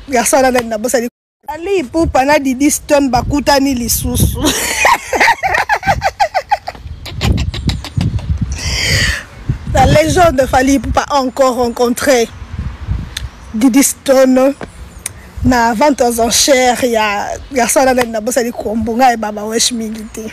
garçon wana nani nabosani ali pupa na didi stone bakutani lisusu la légende fali pupa encore rencontré didi stone na vente aux enchères ya garçon wana nani nabosani kombo ngai baba wesh mingi te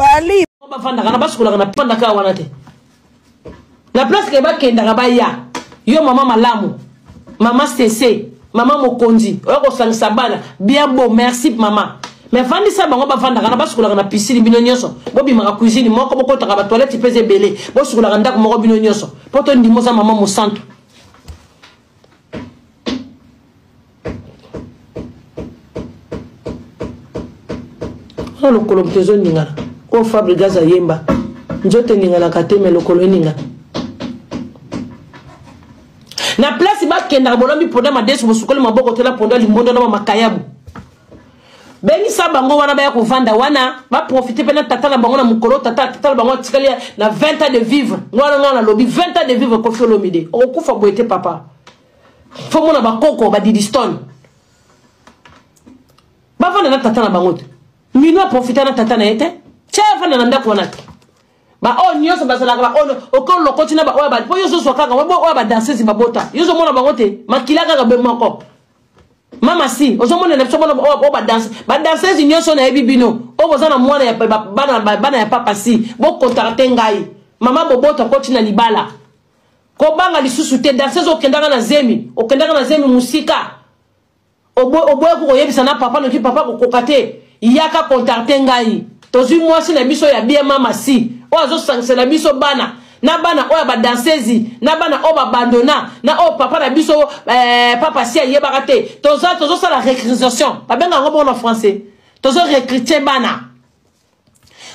fali bafandaka na basukolaka na pandaka wana te na place ke bakendaka baya yo mama malamu mama sese mama mokonzi oyo kosangisa bana bien beau merci mama me vandisa bango bavandaka na basukolaka na pisini bino nyonso bobimaka cuisine moko bokotaka batoilette mpe eza ebele bosukolaka ndako moko bino nyonso mpo tondima oza mama mosantu na lokolo moto ezoningana oyo fabrigas ayemba nzoto eninganaka te me lokolo eningana na place bakendaka bolombi mponda madesu bosukoli maboko te na mponda limbondo na bamakayabu bengisa bango wana baya kovanda wana baprofite mpe na tata na bango na mokolo tata tata na bango atikali na 20 ans de vivre wana ngai nalobi 20 ans de vivre kofi olomide okokufa boye te papa fo mona bakoko badidistone bavanda na tata na bango te mino aprofita na tata na ye te tya avanda na ndako wana te baoyo oh, nyonso bazalaka baoyo oh, okolo lokoti na baoyo bali mpo yo ozozwa kaka oyo badansese babota yo ozomona bango te makila kaka be moko mama si ozomonela biso bona oyo oh, badanse badansese nyonso nayebi bino oyo boza na mwana bana ya papa si bokontaka te ngai mama bobota okoti na libala kobanga lisusu te danseuse okendaka na zemi okendaka na zemi mosika oboyaki koyebisa na papa noki papa kokoka te yaka kontakte ngai tozwi mwasi na biso ya bien mama si oyo azosangisela biso bana na bana oyo badansezi na bana oyo babandona na oyo papa na biso eh, papa si ayebaka te tozosala recrutation babenga yango bongo na français tozo recrute bana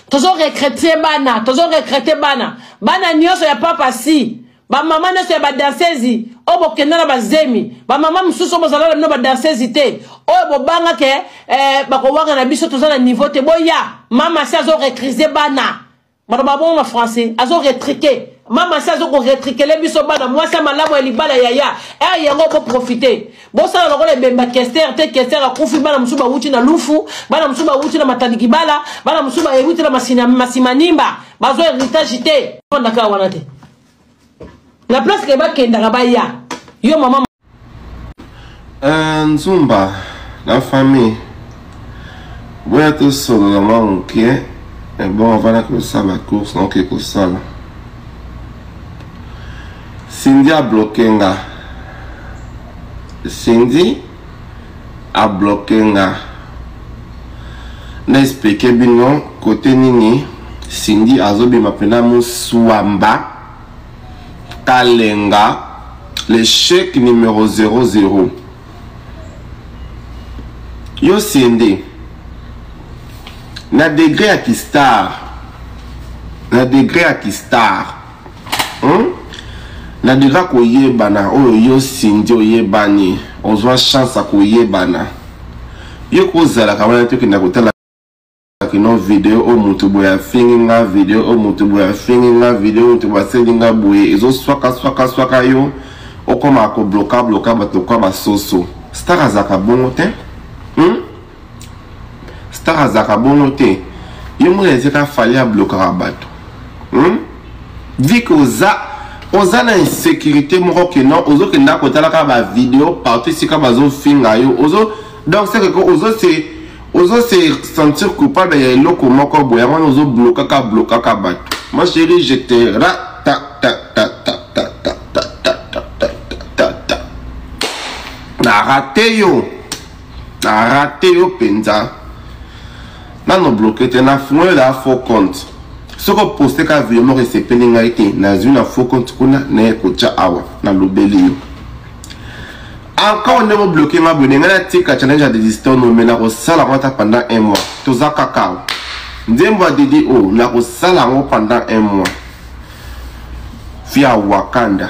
tozo recrete bana tozo recrete bana bana nyonso ya papa si bamama nyonso ya badansezi oyo bokenda na bazemi bamama mosusu oyo bozalala bino badansezi te oyo bobanga ke eh, bakowanga na biso toza na niveau te boya mama si azo recrise bana bato babongo na français azo retrike mama si azo koretrikele biso bana mwasi ya malamu ya libala yaya ere eh, yango boprofite bosala lokola ebemba kester te kester akufi bana mosusu bawuti na lufu bana mosusu bawuti na matandikibala bana mosusu bawuti na masimanimba bazwa heritage te fandaka wana te na place ke bakendaka baya yo mama eh, nzumba na famille boya tosolola mwa moke ebongo eh, vana kosala course naoke kosala Cindy a bloquer nga. Cindy a bloquer nga. Na expliquer bino côté nini Cindy azobima pena muswamba kalenga l'échec numéro 00 yo Cindy na degré ya kistar na degré ya kistar na deka koyebana oyo yo sindi oyebani ozwa chance ya koyebana yo kozalaka wana tokenda kotala kino video oyo moto boye afingi nga video oyo moto boye afingi nga video oyo moto boye aseli nga boye ezoswaka swaka swaka yo okoma kobloka bloka bato kwa basoso star azalaka bongo te hmm? star azalaka bongo te yo mona ezeka fali ablokaka bato hmm? vi ke oza oza na insécurité moko ke non ozokenda kotalaka bavideo partout esika bazofinga yo ozo donc seke ko ozo se ozo se sentir coupable ya eloko moko boye yango wana ozoblokaka blokaka bato ma chérie je te rata na rate yo Na rate yo penza. Nano bloqué te na fungoli la faux compte. Soko poste ka video moko esepeli ngai te nazwi na faux compte kuna naye kotya awa na lobeli yo. Encore ndenge obloqué nga boye ndenge natika challenge ya desistant no me nakosala yango ata pendant un mois. Toza kaka awa. Nzembo ya Didi O oh, nakosala yango pendant un mois. Via Wakanda.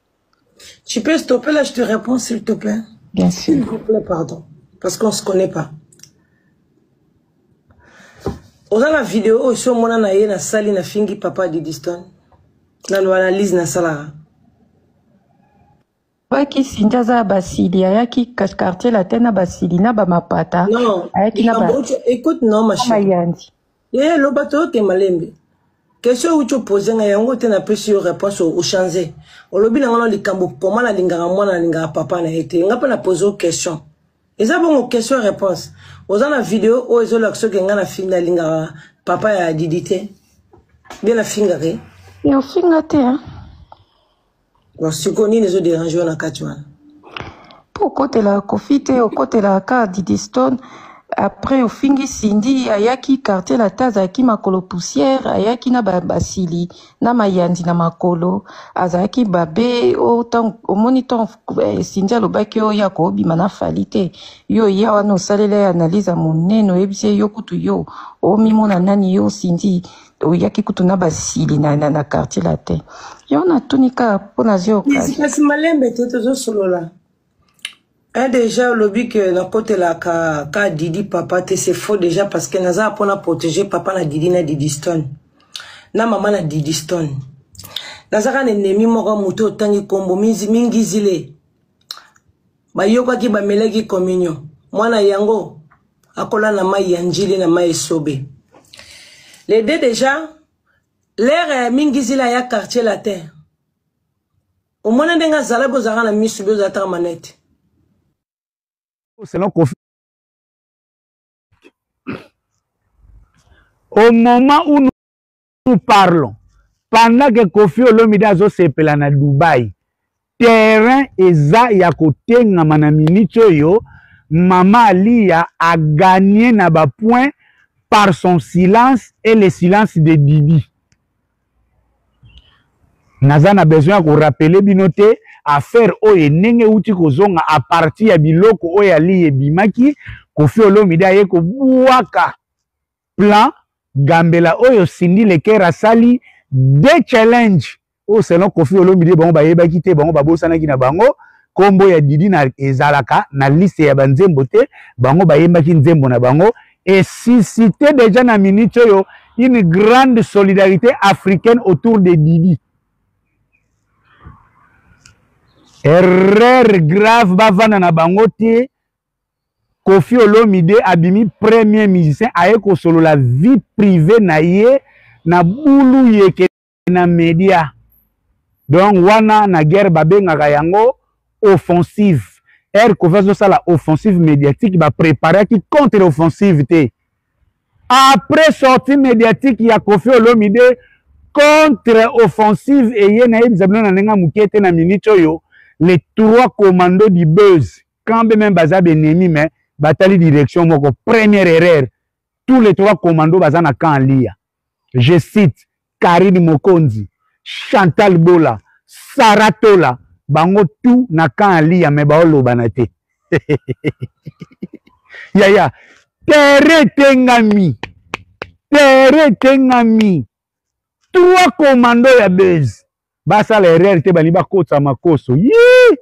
Tu peux stopper là, je te réponds s'il te plaît. Bien sûr. S'il vous plaît, pardon. Parce qu'on ne se connaît pas. oza na video oyo si omona na ye nasali nafingi papa didiston nano analyse nasalaka ayaki sinja aza ya basili ayaki quartier latin na basili na bamapata ayaki na mayanzi Ye loba toyoke malembe. Question uti opose nga yango te napesi yo réponse ochange. Olobi na ngana likambo koma nalingaka mwana nalingaka papa na ye te. Nga mpe na pose yo question. Eza bongo question réponse. Oza na video oyo ezolakisa oke nga nalingaka papa ya Didi te. Bie nafingaka ye. Yo finga te hein. siko nini ezo derange yo na kati wana po okotela kofi te okotela ka didistone après ofingi sindi ayaki quartier lata azalaki makolo poussière ayaki na basili na mayandi na makolo azalaki babe omoni ntango eh, sindi alobaki oyo ya koobima na fali te yo ya wana osalela ye analyse ya monene oyebisi ye yo kutu yo omimona nani yo sindi oyaki kutu na basili na, na, na quartier latin yo natuni kaka mpo nazwi okasi kasi malembe te tozosolola e deja olobi ke nakotelaka ka didi papa te c'est faux deja parce que naza mpo na protéger papa na didi na didi stone na mama na didi stone nazaka na enemi moko moto otangi nkombo mingi zile bayokaki bamelaki communion mwana yango akola na mai ya njili na mai esobe les deux déjà lere ya mingizila ya quartier latin omona ndenge azala bozalaka na misu bozalaka manete selon kofi au moment où nous parlons pendant que kofi olomide azosepela na dubai terrain eza ya kotengama na minute oyo mama aliya aganye na bapoint par son silence et le silence de didi naza na besoin ya korapele bino te affaire oyo ndenge euti kozonga a partir ya biloko oyo aliya ebimaki kofi olomide aye kobwaka plan gambela oyo Cindy Leker asali de challenge oyo selon Koffi Olomide bango bayebaki te bango babosanaki na bango kombo ya Didi na ezalaka na liste ya banzembo te bango bayembaki nzembo na bango et suscité déjà na minute oyo une grande solidarité africaine autour de Didi erreur grave bavanda na bango te Koffi Olomide abimi premier musicien aye kosolola vie privee na ye na bulu yeke na media donc wana na guerre babengaka yango offensive ere Koffi azosala offensive médiatique ba preparaki contre offensive te après sortie médiatique ya Koffi Olomide contre offensive eye nayebisa bino na ndenge ya moke te na minute oyo les trois commandos du buzz quand même baza benemi mais batali direction moko première erreur tous les trois commando baza na camp liya je cite karine mokonzi chantal bola sara tola bango tout na camp liya mais baolobana te yaya tere etengami tere etengami trois commando ya base basala erreur te balingi bakotisa makoso yii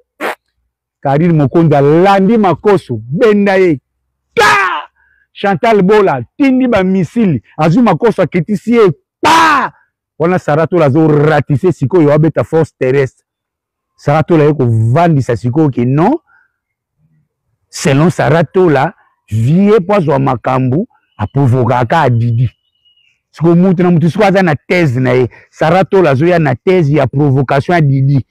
karine mokonzi alandi makoso benda ye ka chantal bola atindi bamisili azwi makoso akitisi ye pa wana saratola azoratise sikoyo abeta force terrestre saratola ye kovandisa sikoyo ke non selon sara tola vie mpo azwa makambo aprovokaka adidi siko mutu na mutu siko aza na thèse na ye sara tola azoya na thèse ya provocation ya didi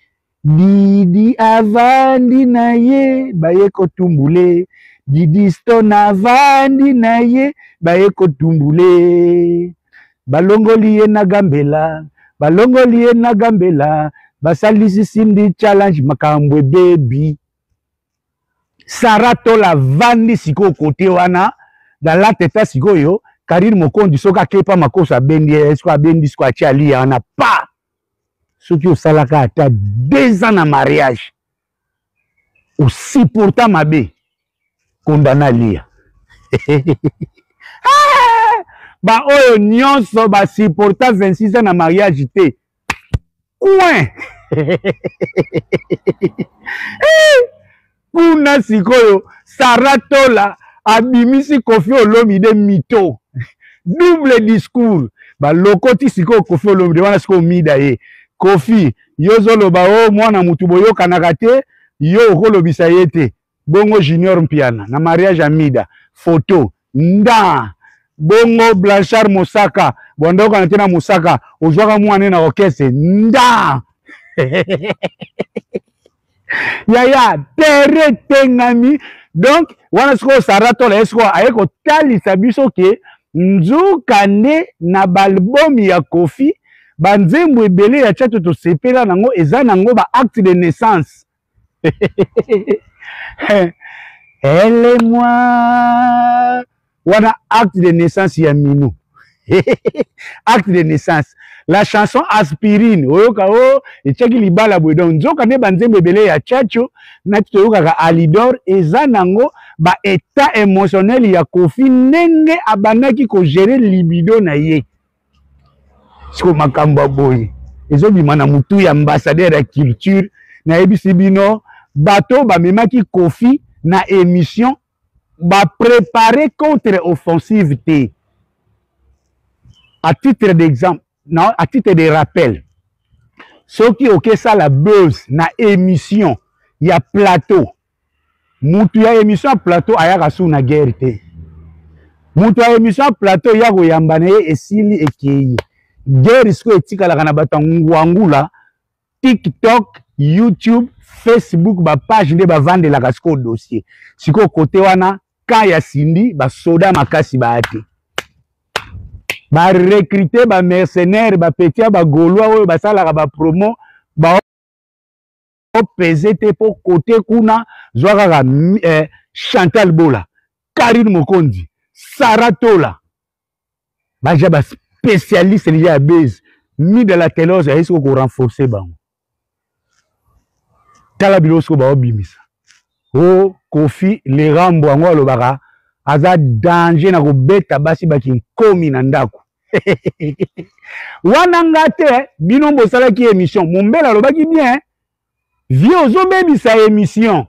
didi avandi na ye baye kotumbule didi stone avandi na ye baye kotumbule balongoli ye na gambela balongoli ye na gambela basalisi sindi challenge makambo ebebi sara tola vandi sikoyo kote wana na late ta sikoyo karine mokonzi soki akepa makoso abendi ye soki abendi siko atie aliya wana pa soki osalaka ata deux ans na mariage osupporta mabe kondana aliya baoyo nyonso basupporta 26 ans na mariage te coin kuna sikoyo sara tola abimisi kofi olomide mito double discours balokoti sikoyo kofi olomide wana sikoyo mida ye kofi yo ozoloba o oh, mwana motu boyokanaka te yo okolobisa ye te bongo junior mpiana na mariage ya mida photo nda bongo blanchard mosaka bwanda okana te na mosaka ozwaka mwana na orchestre nda yaya tere etengami donc wana sikoyo sara tola ye sikoyo aye kotalisa biso ke nzoka nde na baalbum ya kofi banzembo ebele ya chato tosepela nango eza nango baacte de naissance ele mwa wana acte de naissance ya mino acte de naissance la chanson aspirine oyoka o oh, etiaki libala boye donc nzoka nde banzembo ebele ya chacho nati toyokaka alidor eza nango ba état émotionnel ya kofi ndenge abandaki kogere libido na ye siko makambo ya boye ezobima na motu ya ambassadeur ya culture nayebisi bino bato oyo bamemaki kofi na émission baprépare contre offensive te à titre d'exemple na à titre de rappel soki okesala buzz na émission ya plateau mutu ya emission ya plateau ayaka sou na guerre te mutu ya emission ya plateau ya koyamba na ye esili ekei guerre sikoyo etikalaka na bato ya ngwangula tiktok youtube facebook bapage nde bavandelaka sikoyo dossier sikoyo kote wana ka ya sindi basoda makasi baya te barekrute bamercenaire bapetia bagaulois oyo basalaka bapromo ba peze te mpo kote kuna zwa kaka eh, chantal bola karine mokonzi sara tola baja baspecialiste deja ya base mida la telose ayei soko korenforce bango tala biloko soko baobimisa o oh, kofi lerambo yango alobaka aza danger na kobeta basi bakinkomi na ndako wana nga te bino bosalaki émission mombele alobaki bien vie ozobebisa émission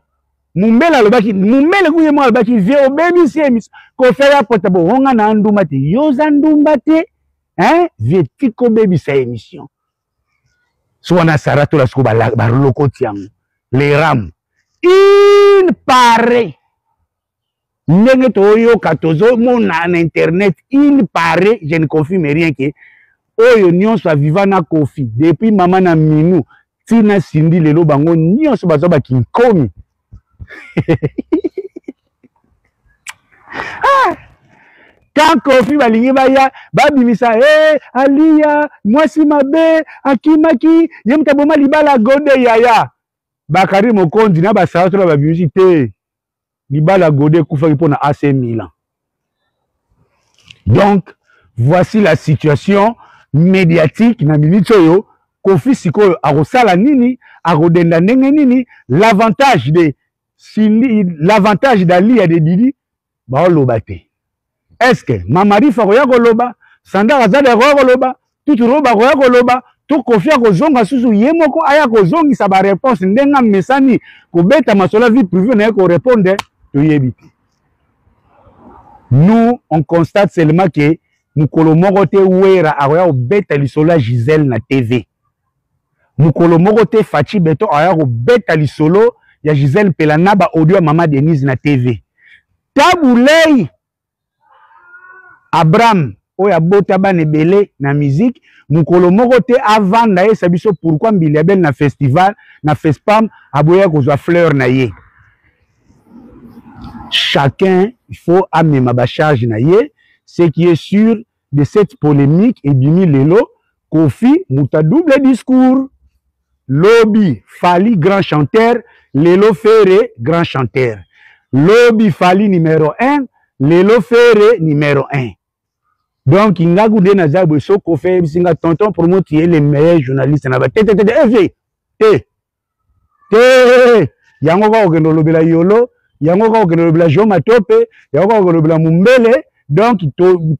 mombele alobaki mombele kuye moko alobaki vie obebisi émission kofela pota bohonga na ndumba te yo oza ndumba te hein vie tika obebisa émission so wana sara tola siko balokoti yango le ram il paraît ndenge toyoka tozomona na internet il paraît je ne confirme rien ke oyo nyonso aviva na kofi depuis mama na minou ntina sindi lelo bango nyonso baza bakinkomi ah! quand kofi balingi baya babimisa e hey, aliya mwasi mabe akimaki ye moto aboma libala gode yaya bakari mokonzi na basala tona babimisi te libala gode ekufaki mpo na ac milan donc voici la situation médiatique na minute oyo kofi sikoyo akosala nini akodenda ndenge nini l'avantage de l'avantage d'aliya de didi baoloba te eske mama rifa akoya koloba sandar azali akoya koloba tutu roba akoya koloba to kofi akozonga susu ye moko aya kozongisa bareponse ndenge amesani kobeta masola vie prive na ye korepondre toyebi te nous on constate seulement ke mokolo moko te wera akoya kobeta lisolo ya gisele na tv mokolo moko te faci beton aya kobeta lisolo ya gisele mpela na baaudio ya mama denise na tv tabu lei abraham oyo abota bana ebele na miziki mokolo moko te avanda yesa biso pourkui mbili ya bele na festival na fespam aboya kozwa fleur na ye chacun faut amema bacharge na ye ce qui est sûr de cette polemique ebimi lelo kofi moto a double discours lobi fali grand chanteur lelo fere grand chanteur lobi fali numero 1 lelo fere numero 1 donc ngaku nde naza boye soki kofi ayebisi nga tonton promo tu es le meilleur journaliste na ba te te te te eh, eh. te yango kaka okende olobela yolo yango kaka okende olobela jo matope yango kaka okende olobela mombele donc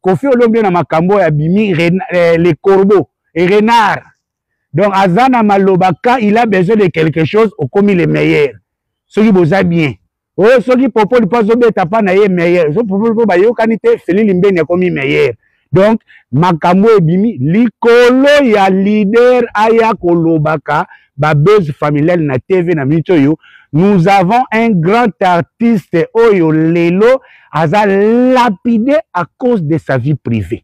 kofi olombi na makambo oyo abimi eh, le corbeau et renard donc aza na maloba quand il a besoin de quelque chose okomi le meilleur soki boza bien oyo soki popoli mpo azobeta mpa na ye meilleur so popoli mpo bayokani te feli limbeni akomi meilleur donc makambo ebimi likolo ya leader aya kolobaka babase familiale na tv na minute oyo nous avons un grand artiste oyo lelo aza lapide à cause de sa vie privée